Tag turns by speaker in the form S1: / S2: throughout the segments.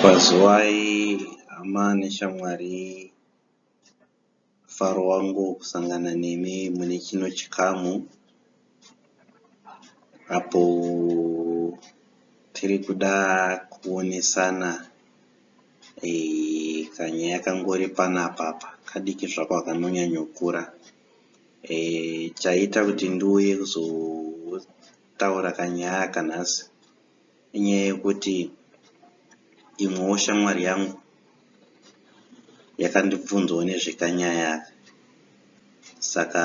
S1: Pazuvai hama neshamwari faro wangu kusangana nemi mune chino chikamu. Apo tiri kuda kuonesana eh, kanyaya kangori panapa apa kadiki zvako hakanonyanyokura eh, chaita kuti ndiuye kuzotaura kanyaya aka nhasi Inyaya yekuti imwewo shamwari yangu yakandibvunzawo nezvekanyaya aka saka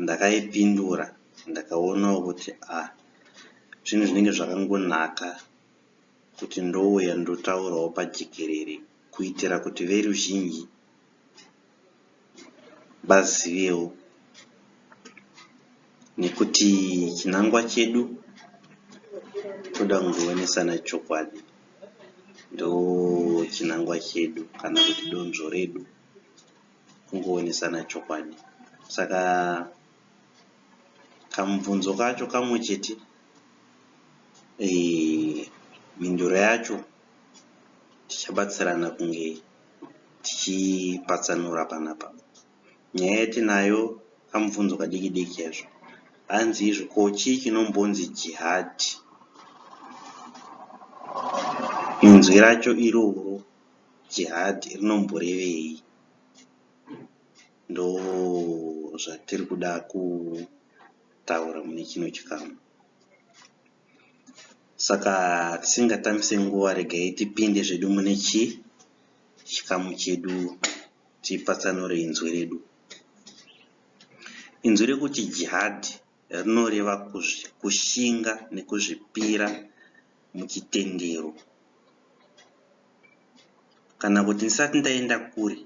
S1: ndakaipindura ndakaonawo kuti ah zvinhu zvinenge zvakangonaka kuti ndouya ndotaurawo pajekerere kuitira kuti veruzhinji vazivewo nekuti chinangwa chedu toda kuzoonesana chokwadi ndochinangwa chedu kana kuti donzvo redu kungoonesana chokwadi saka kamubvunzo kacho kamwe chete mhinduro yacho tichabatsirana kunge tichipatsanura panapa. Nyaya yatinayo kamubvunzo kadiki diki chaizvo. Hanzi izvo ko chii chinombonzi jihad? Inzwi racho iroro jihad rinomborevei? Ndo zvatiri kuda kutaura mune chino chikamu. Saka tisingatamise nguva regai tipinde zvedu mune chi chikamu chedu tipatsanure inzwi redu. Inzwi rekuti jihadhi rinoreva kushinga nekuzvipira muchitendero. Kana kuti ndisati ndaenda kure,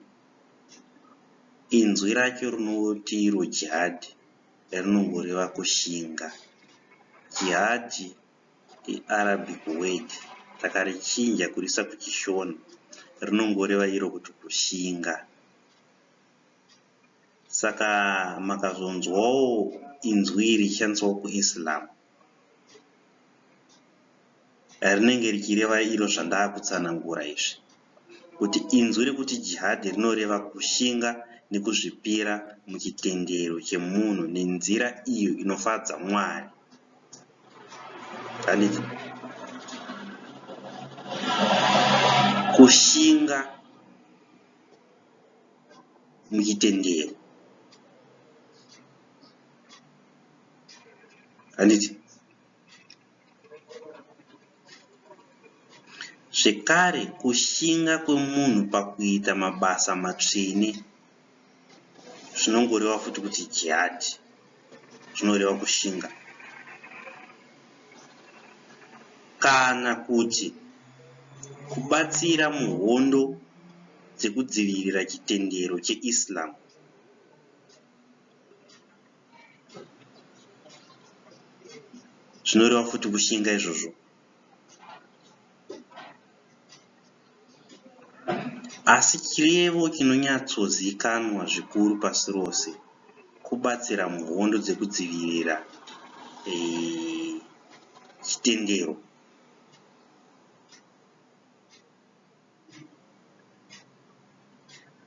S1: inzwi racho rinoti iro jihadhi. rinongoreva kushinga. Jihadi iArabic word takarichinja kuriisa kuChiShona rinongoreva iro kuti kushinga. Saka makazonzwawo inzwi iri richishandiswawo kuIslam rinenge richireva iro zvandakutsanangura izvi. kuti inzwi rekuti jihad rinoreva kushinga nekuzvipira muchitendero chemunhu nenzira iyo inofadza Mwari. Zvanetsa. Kushinga muchitendero. Handiti? Zvekare, kushinga kwemunhu pakuita mabasa matsvene zvinongoreva futi kuti jihadhi, zvinoreva kushinga. Kana kuti kubatsira muhondo dzekudzivirira chitendero cheIslam. zvinoreva futi kushinga izvozvo asi chirevo chinonyatsozikanwa zvikuru pasi rose kubatsira muhondo dzekudzivirira e, chitendero e,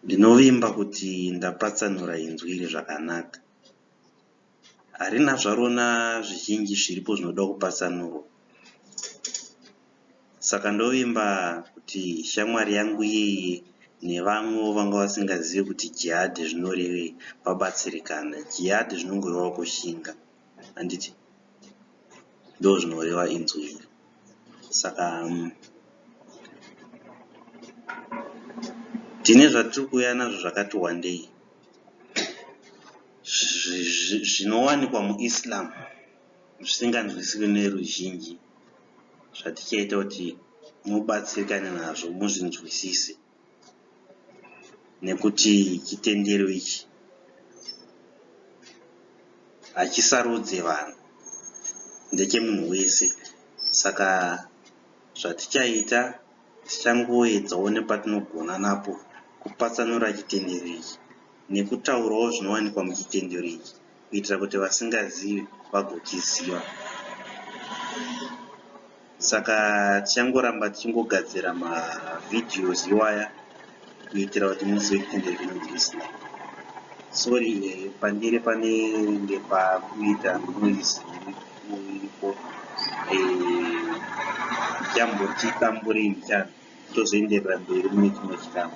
S1: Ndinovimba kuti ndapatsanura inzwi iri zvakanaka. Harina zvarona zvizhinji zviripo zvinoda kupatsanurwa saka ndovimba kuti shamwari yangu iyeye nevamwewo vanga vasingazive kuti jihad zvinorevei vabatsirikane. Jihad zvinongorevawo kushinga. handiti ndozvinoreva inzwi iri saka um, tine zvatiri kuuya nazvo zvakati wandei zvinowanikwa muislam zvisinganzwisiri neruzhinji zvatichaita kuti mubatsirikane nazvo muzvinzwisise nekuti chitendero ichi hachisarudze vanhu ndechemunhu wese saka zvatichaita tichangoedzawo nepatinogona napo kupatsanura chitendero ichi nekutaurawo zvinowanikwa muchitendero ichi. kuitira kuti vasingazivi vagochiziva. Saka tichangoramba tichingogadzira mavideos iwaya kuitira kuti muzive kuti ndezvinonzi listening. Sorry eh, pandiri panenge pakuita noise iripo ndichamboti eh, tamburei ndichana tozoenderera mberi mune chimwe chikamu.